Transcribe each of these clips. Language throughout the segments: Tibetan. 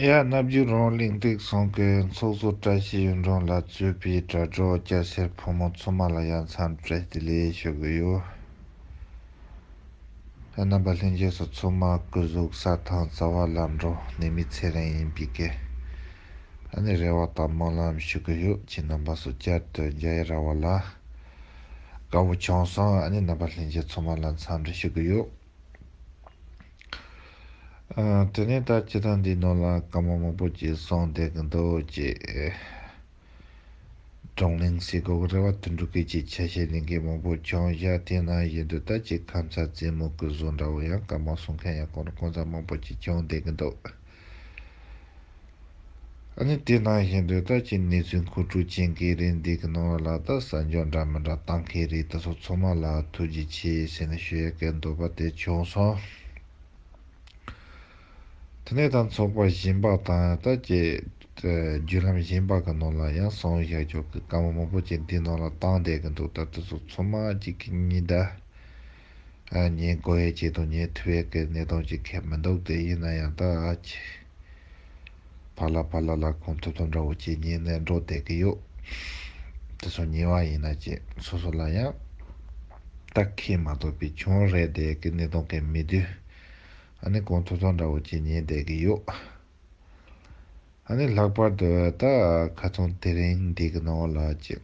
ཡ་རྣ་བརྒྱུད་རོང་གླིང་སྟེགས་སྲུང་གི་ཚོགས་གཙོ་བཀྲ་ཤིས་གཡུང་དྲུང་ལགས་གཙོས་པའི་དྲ་གྲོགས་སྐྱ་སེར་ཕོ་མོ་ཚོ་མ་ལ་ཡ་མཚམས་སྤྲད་དེ་ལས་ཞུ་གི་ཡོད། རྣམ་པ་ལྷན་རྒྱས་སུ་ཚོ་མ་སྐུ་གཟུགས་ས་དང་རྩ་བ་ལ་འགྲོ་ནི་མི་ཚེ་རིང་ཡིན་པའི་སྐད། ནི་རེ་བ་དང་སྨོན་ལམ་ཞུ་གི་ཡོད་ཅེས་རྣམ་པ་སུ་བསྐྱར་དུ་རྒྱ་ཡེ་ར་བ་ལ། དགའ་བོ་བྱང་བསང་ཨ་ནེ་རྣམ་པ་ལྷན་རྒྱས་ཚོགས་མ་ལ་འཚམས་འདྲི་ཞུ་གི་ཡོད། དེ་ནས་ད་ཁྱེད་རང་འདིའི་ནང་ལ་སྐར་མ་མང་པོ་ཅིག་སོང་བསྡད་གི་འདུག་ཅེས། བགྲང་གླེང་སའི་སྒོ་རེ་བ་དུ་འབྲུག་སྐད་ཀྱི་ཆ་ཤས་ལེན་མཁན་མང་པོ་བྱང་བཞག་དེ་ན་ཡོད་འདུག་ད་ཅིག་ཁམས་ཚ་རྫས་མུ་གུ་བཟོ་འདྲ་བོ་ཡང་སྐར་མ་སོང་མཁན་ཡང་ཁོང་རང་ཁོང་ཚ་མང་པོ་ཅིག་བྱང་བསྡད་གི་འདུག། ཨ་ནི་དེ་ནང་བཞིན་དུ་ལྟ་ཅི་གནས་ཚུལ་མཁོ་སྤྲོད་བྱེད་མཁན་རེད་འདི་གི་ནང་བ་ལ་ད་ས་འཇོག་འདྲ་མི་འདྲ་བཏང་མཁན་རེད་ད་སོ་ཚོགས་མ་ལ་ཐུགས་རྗེ་ཆེ་ཟེར་ནས་ཞུ་ཡ་སྐད་འདོད་པ་དེ་བྱུང་སོང། དེ་ནས་ད་ཚོགས་པ་གཞན་པ་དང་ད་ཀྱི་བརྒྱུད་ལམ་གཞན་པ་གི་ནང་ལ་ཡང་ཟངས་བཞག་རྒྱོག་གི་བཀའ་མོ་མང་པོ་ཅིག་འདི་ནང་ལ་བཏང་བསྡད་གི་འདུག་ད་དེ་ཚོ་ཚོགས་མ་གཅིག་གི་གཉིས་ད། ཉེ་འགོ་བའི་སྐྱེ་དང་ཉེ་དུ་བའི་གནས་སྟངས་ཀྱི་ཁེ་མི་འདུག་དེ་ཡིན་ན་ཡང་དག་ཕ་ལ་ཕ་ལ་ལ་གོང་ཐུབ་དང་འདྲ་བོ་ཇི་སྙེད་ནས་འགྲོ་བསྡད་ཀྱི་ཡོད། དེ་ཚོ་ཉེ་བ་ཡིན་ན་ཅི་སོ་སོ་ལ་ཡང་དག་ཁེ་མ་ཐོབ་པའི་ཆུང་རེ་བསྡད་ཀྱི་གནས་སྟངས་ཀྱི་མི་དུས་ཨ་ནི་གོང་ཐུབ་དང་འདྲ་བོ་ཇི་སྙེད་བསྡད་ཀྱི་ཡོད། ཨ་ནི་ལྷག་པར་དུ་ད་ཁ་ཚོང་དེ་རིང་འདི་གི་ནང་ལ་ཅི།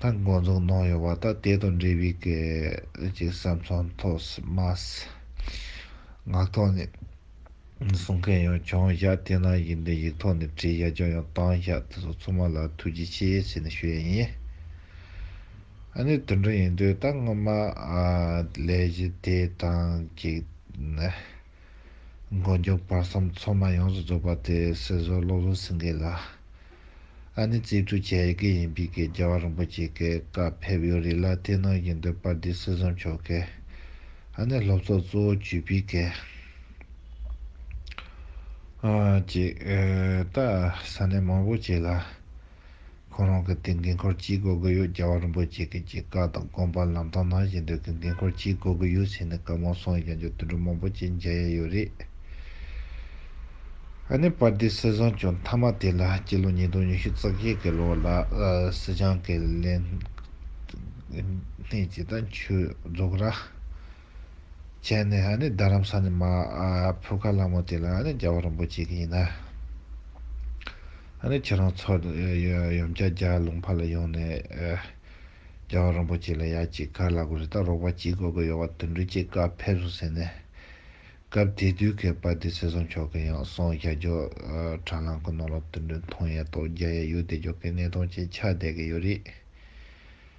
ལ་འགོ་འཛུགས་གནང་ཡོད་པ་དང་དེ་དང་འབྲེལ་བའི་གལ་ཆེའི་བསམ་ཚུལ་ཐོག་སྨྲ་སེངག་ཐོག་ནས་གསུང་མཁན་ཡང་བྱུང་ཞག་དེ་རྣམས་ཡིག་འབྲི་ཡིག་ཐོག་ནས་བྲིས་ཡག་རྒྱུ་ཡང་བཏང་ཞག་དེ་ཚོ་ཚང་མ་ལ་ཐུགས་རྗེ་ཆེ་ཞེས་ནས་ཞུ་ཡས་ཡིན། ཨ་ནི་དུད་འགྲོ་ཡིན་དུས་ད་སྔོན་མ་ལས་གཞི་དེ་དང་གཅིག། མགོ་མཇུག་བར་གསུམ་མཚོ་མ་ཡོངས་སུ་རྫོགས་པ་དེ་སྲིད་བཟོ་བློ་བཟོ་སེང་གེ་ལགས་ཨ་ནི་རྩིས་སྤྲོད་བྱེད་ཡི་གེ་ཡིན་པི་གེ་རྒྱལ་བ་རིན་པོ་ཆེ་གེ་ཀ་ཕེབས་ཡོད་རིགས་ལ་བསྟེན་གནང་བཞིན་འདུག་པར་འདི་སྲིད་བཟོ་མཆོག་གེ་ཨ་ནི་སློབ་ཚོགས་གཙོ་བོ་བྱུས་པི་གེ་ཨ་ཅིག་ཏག་ས་གནས་མང་པོ་བྱས་ལ། ཁོང་རང་གི་དེ་འགན་འཁུར་ཅི་གོ་གི་ཡོད་རྒྱལ་བ་རིན་པོ་ཆེ་གིས་ཀྱི་བཀའ་དང་དགོངས་པ་ལམ་སྟོན་གནང་བཞིན་དུ་གི་འགན་འཁུར་ཅི་གོ་གི་ཡོད་ཟེར་ནས་བཀའ་མོལ་གསུངས་ཡོད་ཀྱང་འགྱོ་དུད་འགྲོ་མང་པོ་ཅི་མཇལ་ཡས་ཡོད་རེད། ཨ་ནི་པར་དེ་སྲིད་བཟང་བྱུང་མཐའ་མ་དེ་ལ་སྤྱི་ལོ་ཉིས་སྟོང་ཉི་ཤུ་རྩ་བཞི་གི་ལོ་ལ་སྲིད་བྱང་གི་ལས་སྣེ་ཇི་ལྟར་འཁྱུད་རྫོགས་ར། བྱས་ནས་རྡ་རམ་ས་ནས་མ་ཕུ་ཁ་ལ་མོ་དེ་ལ་རྒྱལ་བ་རིན་པོ་ཆེ་གི་ཡིན་ན། ཁྱེད་རང་ཚོ་ཡོམ་ཀྱ་རྒྱ་ལུང་པ་ལ་ཡོང་ནས་རྒྱལ་བ་རིན་པོ་ཆེ་ལ་ཡ་གཅིག་ག་ལ་དགོས་རེད་ད་རོགས་པ་གྱིས་དགོས་དགོས་ཡོད་བ་དུད་འགྲོ་གྱིས་བཀའ་ཕེབས་སོང་ཟེར་ནས། སྐབས་དེ་དུས་ཀྱི་པ་དེ་སེ་ཟོང་ཆོག་གི་ཡང་སོང་ཤ་རྒྱོ་དྲ་ལམ་གི་ནང་ལ་དུད་འགྲོའི་མཐོང་ཡས་ཏོག་རྒྱ་ཡས་ཡོད་དེ་རྒྱོ་གི་གནས་སྟོང་ཅན་ཆགས་བསྡད་གི་ཡོད་རེད།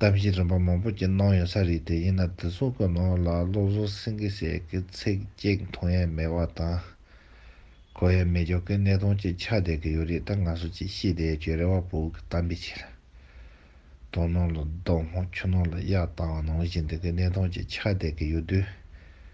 གཏམ་བཤད་རིམ་པ་མང་པོ་བཅས་གནང་ཡོད་ས་རེད་དེ་ཡིན་ན་བདེ་སྲུང་གི་ནང་ལ་སློབ་གསོ་སེང་གེ་ཞེས་ཀྱི་ཚིག་གཅིག་མཐོང་ཡས་མེད་བ་དང། གོ་ཡས་མེད་ཀྱོག་གི་གནས་སྟངས་ཅིག་ཆགས་བསྡད་ཀྱི་ཡོད་རེད་ད་ང་ཚོ་ཅིག་ཤེས་བསྡད་ཡས་ཀྱོད་རེད་བ་བོའུ་གི་གཏམ་དཔེ་ཆེ་ལ། དོ་ནང་ལ་བདག་མོ་ཁྱོད་ནང་ལ་གཡག་བཏང་བ་ནང་བཞིན་འདི་གི་གནས་སྟངས་ཅིག་ཆགས་བསྡད་ཀྱི་ཡོད་དུས།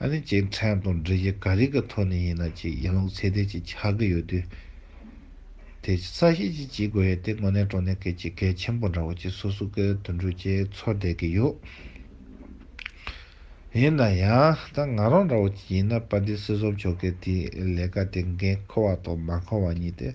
ཨ་ནི་ཅིག་ཕྲན་དང་འབྲེལ་གཞི་ག་རིགས་ཀྱི་ཐོག་ནས་ཡིན་ན་ཅིག་ཡིན་ལུགས་ཚད་ལྡན་ཅིག་ཆགས་ཀྱི་ཡོད་དུས། དེ་ས་གཞི་ཅིག་བྱེད་དགོས་ཡོད་དེ་དངོས་གནས་གྲོང་སྡེ་གལ་ཆེ་གལ་ཆེན་པོ་འདྲ་བོ་ཅིག་སོ་སོ་ཀའི་དུད་འགྲོ་བཅས་འཚོ་བསྡད་ཀྱི་ཡོད། ཡིན་ན་ཡང་ད་ང་རང་འདྲ་བོ་ཅིག་ཡིན་ན་པ་འདི་སྲིད་གསུམ་ཆོལ་ཁའི་དེའི་ལས་ཀ་དེ་འགན་ཁུར་བ་དང་མ་ཁུར་བ་གཉིས་ཏེ།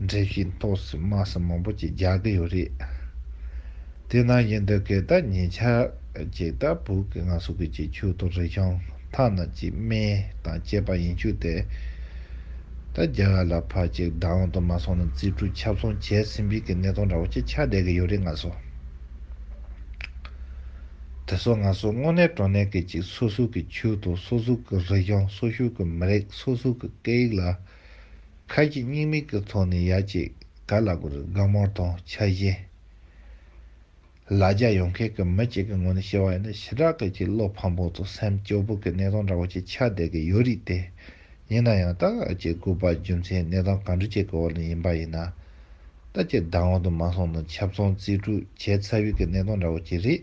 འགྲེལ་བཤད་ཐོག་སུ་དམག་ཟམ་མང་པོ་ཅིག་རྒྱག་གི་ཡོད་རེད། དེ་ནང་བཞིན་འདི་གས་ད་ཉེ་ཆར་གཅིག་ད་བུག་གི་ང་སུ་གི་ཅིག་ཆུ་དང་རི་ཤང་ཐ་ན་གཅིག་སྨན་དང་བཅས་པ་ཡིན་ཆུ་དེ་ད་རྒྱ་གར་ལ་ཕར་ཅིག་བདག་དབང་དུ་མ་སོང་ན་རྩིས་སྤྲོད་ཁྱབ་ཚོང་བྱས་ཟིན་པའི་གི་གནས་སྟངས་འདྲ་བོ་ཅིག་ཆགས་བསྡད་གི་ཡོད་རེད་ང་སུ་དེ་སོ་ང་སུ་དངོས་གནས་གྲོ་ནས་གི་ཅིག་སོ་སུ་གི་ཆུ་དང་སོ་སུ་གི་རི་ཤང་སོ་སུ་གི་མི་རིགས་སོ་སུ་གི་སྐད་ཡིག་ལ། ཁ་ཅིག་སྙིང་མིག་གི་ཚོགས་ནི་ཡ་གཅིག་ག་ལ་དགོས་རེད་དགའ་མོར་དང་ཆ་བཞི། ལ་རྒྱ་ཡོང་མཁན་གྱི་མི་གཅིག་གི་ངོས་ནས་བཤད་པ་ཡིན་ན་ཞི་དྲག་གི་གྱི་བློ་ཕམ་པོ་དང་སེམས་སྐྱོ་པོ་གི་གནས་སྟངས་འདྲ་བོ་ཅིག་ཆགས་བསྡད་ཀྱི་ཡོད་རིགས་དེ། ཡིན་ན་ཡང་ད་ཅི་དགོས་པ་རྒྱུ་མཚན་གནས་སྟངས་གང་འདྲ་ཅིག་གི་འོག་ནས་ཡིན་པ་ཡིན་ན། ད་ཅི་བདག་འོག་ཏུ་མ་སོང་ན་ཆབ་ཚང་རྩིས་སྤྲོད་བྱས་ཚར་བའི་གི་གནས་སྟངས་འདྲ་བོ་ཅིག་རེད།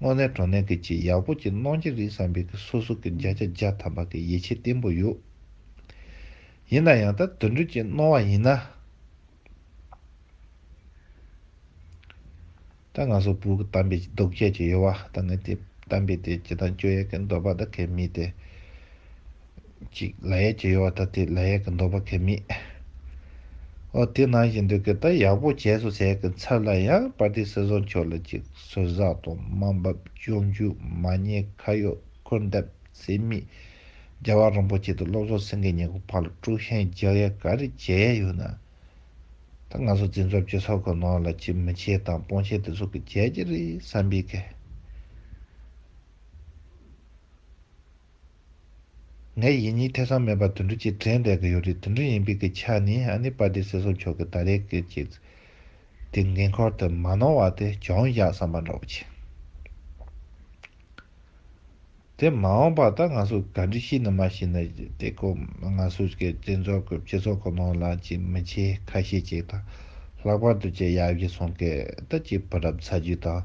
དངོས་གནས་དྲོ་གནས་ཀྱི་ཆེས་ཡག་པོ་གྱི་གནང་གྱི་རིགས་བསམ་པའི་ཀྱི་སོ་སོ་ཀྱི་བརྒྱ་ཆ་བརྒྱ་ཐམ་པ་ཀྱི་ཡིད་ཆེས་བརྟན་པོ་ཡོད། ཡིན་ན་ཡང་ད་དུད་འགྲོས་ཀྱི་གནང་བ་ཡིན་ན། ད་ང་སོ་བུ་ཀྱི་དམ་པའི་ཀྱི་རྡོག་ཁྱད་ཀྱི་ཡོད་བ་ད་ངས་དེ་དམ་པའི་དེ་ཀྱི་དང་སྐྱོ་ཡས་ཀྱི་འདོད་པ་ད་གས་མི་དེ། གཅིག་ལ་ཡས་ཀྱི་ཡོ་བ་ད་དེ་ལ་ཡས་ཀྱི་འདོད་པ་གས་མེད། ཨོ་དེ་ནང་བཞིན་འདུག་གས་ད་ཡག་པོ་བྱས་སོ་ཟེར་གི་མཚར་ལ་ཡང་པར་ཏི་སི་བཟོ་མཆོག་ལ་ཅིག་ཟུར་ཟ་དང་དམའ་འབབ་ཅོ་འཇུ་མ་ཉེས་ཁ་ཡོད་ཁུར་འདེབས་ཚེ་མིས་རྒྱ་བ་རིན་པོ་ཆེ་དང་སློབ་གསོ་སེང་གེ་གཉིས་ཀྱི་བར་ལ་དཀྲུགས་ཤིང་རྒྱག་ཡས་ག་རེ་བྱས་ཡས་ཡོད་ན། ད་ང་ཚོ་འཛིན་རྩོབ་སྤྱི་ཚོགས་ཀྱི་ནང་ལ་ཅིག་མི་ཆེ་དང་སྤོང་ཆེ་དེ་ཚོ་གི་བྱས་ཀྱི་རེད་བསམ་པས་གས། ངས་ཡིད་གཉིས་ཐེ་ཚོམ་མེད་པར་དུད་འགྲོ་གཅིག་དྲན་བསྡད་ཀྱི་ཡོད་རེད་དུད་འགྲོ་ཡིན་པའི་སྐད་ཆ་ནི་ཨ་ནེ་པ་ཏི་སེ་སོགས་མཆོག་གི་ད་རེས་ཀྱི་སྐད་དེ་འགན་ཁུར་དུ་མ་གནང་བ་དེ་གྱོང་བཞག་བསམ་པ་འདྲ་བོ་བྱེད། དེ་མ་འོངས་པར་ད་ང་ཚོས་ག་འདྲི་ཤེས་ནི་མ་ཤེས་ནི་དེ་སྐོར་ང་ཚོས་ཀྱི་སྤྱི་ཚོགས་ཀྱི་སྤྱི་ཚོགས་ཀྱི་ནང་ལ་ཅིག་མི་ཆེ་ཁ་ཤས་ཅིག་དང་ལྷག་པར་དུ་ཅིག་ཡག་བཞི་གསུང་སྐད་ད་ཅིག་བུ་རབས་ཚ་རྒྱུད་དང།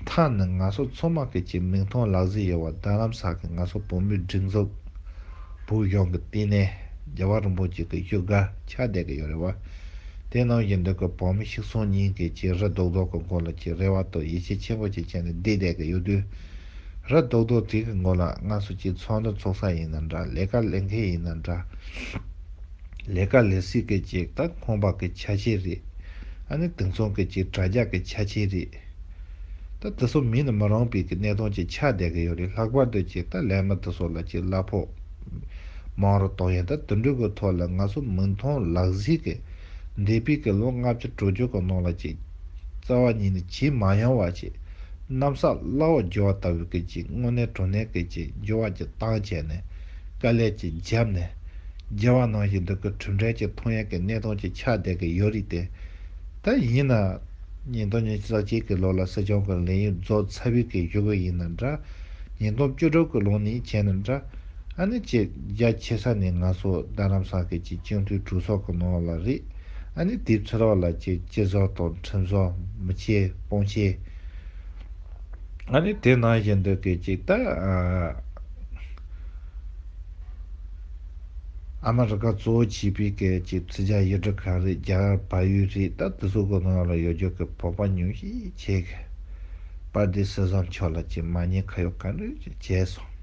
མཐའ་ནི་ང་ཚོ་མཚོ་དམག་གི་ཀྱི་མིག་མཐོང་ལག་ཟིན་ཡོད་པ་རྡ་རམ་ས་གི་ང་ཚོ་བོད་མིའི་སྒྲིག་འཛུགས་བོད་གཞུང་གི་བསྟི་གནས་རྒྱལ་བ་རིན་པོ་ཆེ་གི་བཞུགས་སྒར་ཆགས་བསྡད་ཀྱི་ཡོད་རེད་བ། དེ་ནང་བཞིན་འདི་གི་བོད་མི་ཤིག་སོང་གཉིས་ཀྱི་ཀྱི་རི་རྡོག་རྡོག་གི་མགོ་ལ་ཀྱི་རེ་བ་དང་ཡིད་ཆེས་ཆེན་པོ་ཅིག་བྱས་ནས་བསྡད་བསྡད་ཀྱི་ཡོད་དུས། རི་རྡོག་རྡོག་དེ་གི་མགོ་ལ་ང་ཚོ་ཀྱི་ཚོགས་འདུ་འཚོགས་ས་ཡིན་ན་འདྲ་ལས་ཀ་ལས་མཁན་ཡིན་ན་འདྲ། ལས་ཀ་ལས་སྲིད་སྐད་ཅིག་ད་ཁོང་པ་གི་ཆ་ཆེ་རེད། ཨ་ནི་དེང་སང་སྐད་ཅིག་དྲ་རྒྱ་གི་ཆ་ཆེ་རེད། ད་འདི་སོགས་མིན་ན་མི་རང་བེད་ཀི་གནས་སྟངས་ཅིག་ཆགས་བསྡད་གི་ཡོད་རེད་ལྷག་པར་དུ་ཅིག་ད་ལས་མི་འདི་སོགས་ལ་ཅིག་གླ་ཕོག་མང་རུ་གཏོང་ཡང་ད་དུད་འགྲོས་གི་ཐོག་ལ་ང་ཚོ་མིག་མཐོང་ལག་གཟིགས་གི་འདས་པའི་གི་ལོ་ལྔ་བཅུ་དྲུག་ཅུ་གི་ནང་ལ་ཅིག་རྩ་བ་ཉིད་ནས་ཇི་མ་ཡང་བ་ཅིག་གནམ་ས་བླ་འོག་རྒྱུ་བ་ལྟ་བུའི་གི་ཅིག་དངོས་གནས་གྲོ་ནས་གི་ཅིག་རྒྱུ་བ་ཅིག་བཏང་བྱས་ནས་དཀའ་ལས་ཅིག་འཇབ་ནས། རྒྱལ་བ་ནང་བཞིན་འདི་གི་གྲུབ་འབྲས་ཀྱི་མཐོང་ཡས་ཀྱི་གནས་སྟངས་ཀྱི་ཆ་བསྡད་ཀྱི་ཡོད་རིགས་ཏེ། ད་ཡིན་ན། ཉིས་སྟོང་ཉིས་བརྒྱ་རྩ་གཅིག་གི་ལོ་ལ་སྲིད་སྐྱོང་གི་ལས་ཡུན་རྫོགས་ཚར་བུས་ཀྱི་ཞུ་གི་ཡིན་ན་འདྲ། ཉིས་སྟོང་བཅུ་དྲུག་གི་ལོ་ནས་བྱས་ན་འདྲ། ཨ་ནི་བྱེད་རྒྱ་ཆེ་ས་ནི་ང་སོ་རྡ་རམ་ས་ཀི་ཀྱི་སྤྱི་འཐུས་དྲུག་སོགས་ཀྱི་ནང་ལ་རེད། ཨ་ནི་དེབ་ཚི་རོགས་ལ་ཀྱི་སྤྱི་ཟོག་དང་ཁྲིམས་ཟོག་མི་ཆེ་སྤོང་ཆེ། ང་ནི་དེ་ནང་བཞིན་འདུག་གི་ཅིག་ད། ཨ་མ་རི་ཁ་གཙོ་བོ་བྱིས་པའི་སྐད་ཅིག་ཚིག་བརྒྱ་ཡིག་འབྲུ་གང་རེད་རྒྱ་གར་བལ་ཡུལ་རེད་ད་དེ་ཚོ་གོ་ནོར་ལ་ཡོད་རྒྱུ་གི་བོག་པ་ཉུང་ཤིག་བྱེད་གི། པར་འདི་བསུ་བཟང་མཆོག་ལ་ཅིག་མ་ཉེས་ཁ་ཡོག་ག་འགྲོས་ཅིག་བྱས་སོང།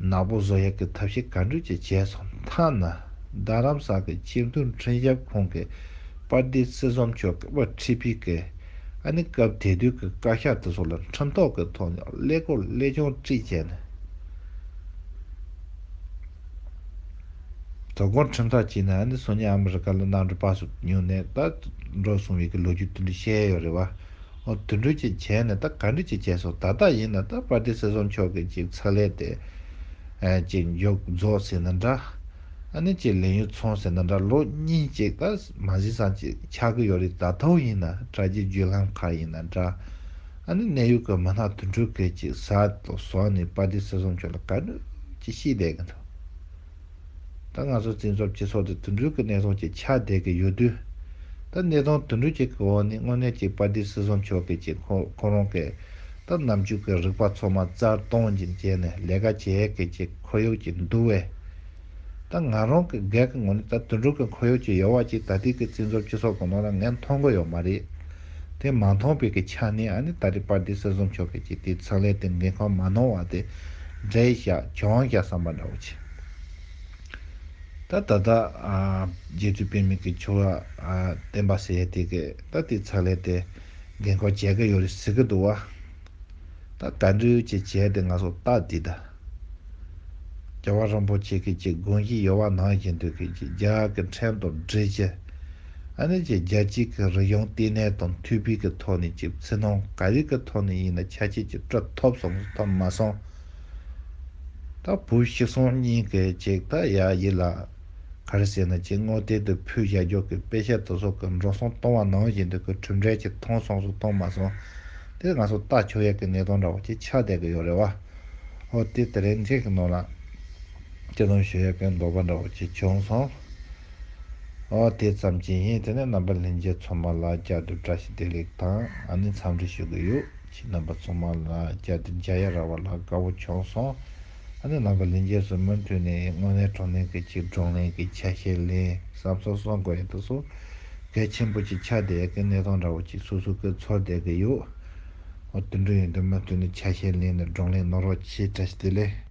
ནག་པོ་བཟོ་ཡག་གི་ཐབས་ཤེས་ག་འགྲོས་ཅིག་བྱས་སོང་མཐའ་ན་རྡ་རམ་ས་གི་སྤྱི་འཐུས་འཕྲིན་ཞབས་ཁོང་གི། པར་འདི་རྩེ་ཟོམ་མཆོག་གིས་དབུ་ཁྲིད་ཕེབས་སྐབས་ཨ་ནེ་སྐབས་དེ་དུས་ཀྱི་བཀའ་ཤག་དེ་ཚོ་ལ་ཁྲིམས་ཐོག་གི་ཐོག་ནས་ཀླད་ཀོར་ཀླད་ཆུང་དཀྲིས་བྱས་ནས་དོ་དགོང་ཁྲིམས་ཐག་བཅད་ནས་ཨ་ནེ་སོ་ཉིས་ཨ་མི་རི་ཀ་ལ་གནང་འགྲོ་པ་སུ་ཉུང་ནས་ད་འགྲོ་སོང་བའི་ལོ་རྒྱུས་དུད་འགྲོས་བཤད་ཡོད་རེད་བ། ཨོ་དུད་འགྲོས་ཅིག་བྱས་ནས་ད་ག་འགྲིག་ཅིག་བྱས་སོང་ད་ལྟ་ཡིན་ན་ད་པར་འདི་རྩེ་ཟོམ་མཆོག་གིས་ཅིག་ཚགས་ལས་དེ་ཅིག་མཇུག་རྫོགས་ཟིན་ན་འདྲ། ཨ་ནེ་ཁྱེད་ལེན་ཡོད་ཚོང་ཟེར་ན་འདྲ་ལོ་གཉིས་གཅིག་ད་མ་ཟིན་སང་ཅིག་ཆགས་ཀྱི་ཡོད་རེད་ད་ཐོག་ཡིན་ན་དྲ་རྒྱའི་བརྒྱུད་ལམ་ཁག་ཡིན་ན་འདྲ། ཨ་ནེ་གནས་ཡུལ་གྱི་མི་སྣ་དུད་འགྲོ་ཁྱེད་ཅིག་བཟའ་དང་ཟོག་ནས་པ་ཏི་སེ་བཟུང་ཁྱོད་ལ་ག་ནུས་ཀྱི་ཤི་བསྡད་ཀྱི་འདུག་ད་ང་ཚོ་བཙན་བྱོལ་སྤྱི་ཚོགས་འདི་དུད་འགྲོའི་གྱི་གནས་སྟངས་ཀྱི་ཆགས་བསྡད་ཀྱི་ཡོད་དུས་ད་གནས་སྟངས་དུད་འགྲོ་ཁྱེད་ཀྱི་འོག་ནས་དངོས་གནས་ཀྱི་པ་ཏི་སེ་བཟུང་ཆོག་གི་ཅིག་ཁོ་ཁོ་རང་གིས་ད་ནམ་རྒྱུན་གྱི་རིག་པ་ཚོ་མ་རྩར་གཏོང་བཞིན་བྱས་ནས་ལས་ཀ་བྱེད་གི་ཅིག། ཁོར་ཡུག་ཅིག་འདུག་བས། ད་ང་རང་གི་སྒེར་གྱི་ངོས་ནས་ད་དོན་དྲུག་གི་ཁོར་ཡུག་ཅིག་ཡོད་བ་ཅིག་ད་ལྟའི་གི་བཙན་འཛུལ་སྤྱི་ཚོགས་གི་ནང་ལ་ངས་མཐོང་གི་ཡོད་མ་རེད། དེ་མ་མཐོང་བའི་གི་ཆ་ནས་ཨ་ནི་ད་རེས་པར་དེ་སྲིད་བཟོ་མཆོག་གིས་ཀྱི་དེའི་ཚགས་ལས་དེ་འགན་ཁུར་མ་གནང་བ་དེ་འབྲས་བཞག་གྱོང་བཞག་བསམ་པ་འདྲ་བོ་བྱས། ད་ད་ལྟ། རྒྱལ་སྤྱིའི་དཔེ་མིག་གི་ཆུ་བ། བསྟན་པ་ཟེར་དེ་གི་ད་དེའི་ཚགས་ལས་དེ་འགན་ཁུར་བྱེད་གི་ཡོད་རེད་ཟེར་གི་འདུག་བ། ད་ག་འདྲི་ཡོད་ཅེས་བྱས་དེ་ང་སོགས་ལྟ་དེ་ད། རྒྱལ་བ་རིན་པོ་ཆེ་ཁྱེད་ཀྱི་དགོན་གྱི་ཡོལ་བ་ནང་བཞིན་དུ་ཁྱེད་ཀྱི་རྒྱ་གི་འཕྲེང་དང་སྦྲེལ་གྱི། ཨ་ནེ་ཀྱི་རྒྱལ་སྤྱིའི་གི་རིག་གཞུང་ལྟེ་གནས་དང་མཐུད་སྤུས་ཀྱི་ཐོག་ནས་ཀྱི་ཚིག་ནང་ག་རིགས་ཀྱི་ཐོག་ནས་ཡིན་ན་ཁྱ་ཁྱེད་ཀྱི་སྤྲོད་ཐོབ་སོང་གི་ཐོབ་མ་སོང། ད་བུ་གཤེགས་སོང་སྙིང་གི་ཅིག་ད་ཡ་ཡིད་ལ། ག་རེ་ཟེར་ན་ཀྱི་དངོས་བསྟན་དུ་ཕུལ་བཞག་རྒྱོག་གི་དཔེ་ཆ་དུ་སོག་གི་འགྲོ་སོང་གཏོང་བ་ནང་བཞིན་དུ་གི་གྲུབ་འབྲས་ཀྱི་ཐོང་སོང་སུ་གཏོང་མ་སོང། དེ་ང་སོ་ལྟ་ཆོག་ཡ་གི་གནས་སྟོང་འདྲ་བ་ཀྱི་ཆགས་བསྡད་གི་ཡོད་རེད་བ། ཨོ་དེ་ལྟར་རིན་ཆེན་གྱི་ནོར་ལ། ཅི་དང་ཞུ་ཡག་གིན་འདོགས་པ་འདྲ་བོ་ཅིག་བྱུང་སོང། ཨོ་དེ་ཙམ་གྱིས་ངས་དེ་ནས་རྣམ་པ་ལྷན་རྒྱས་ཚོགས་མ་ལ་བཅའ་སྡོད་བཀྲ་ཤིས་བདེ་ལེགས་དང་ཨ་ནེ་འཚམས་འདྲི་ཞུ་གི་ཡོད་ཅེས་རྣམ་པ་ཚོགས་མ་ལ་བཅའ་སྡོད་མཇལ་ཡ་ར་བ་ལ་དགའ་བོ་བྱུང་སོང། ཨ་ནེ་རྣམ་པ་ལྷན་རྒྱས་སུ་མུ་མཐུད་ནས་དངོས་གནས་གྲོང་ལྷན་གྱི་ཆིག་སྒྲོང་ལྷན་གྱི་ཆ་ཤས་ལེན་བསམ་སོང་སོང་དགོས་ཡག་ཏུ་སོ་གལ་ཆེན་པོ་ཅིག་ཆགས་བསྡད་ཡག་གིན་གནས་སྟངས་འདྲ་བོ་ཅིག་སུ་སུ་གིས་ཚོར་བསྡད་ཀྱི་ཡོད། འོ་དེ་འདྲ་ཡིན་དུས་མ་བསྟུན་ནས་ཆ་ཤས་ལེན་ནས་བགྲང་ལས་གནང་རོགས་ཅེས་བཀྲ་ཤིས་བདེ་ལེགས།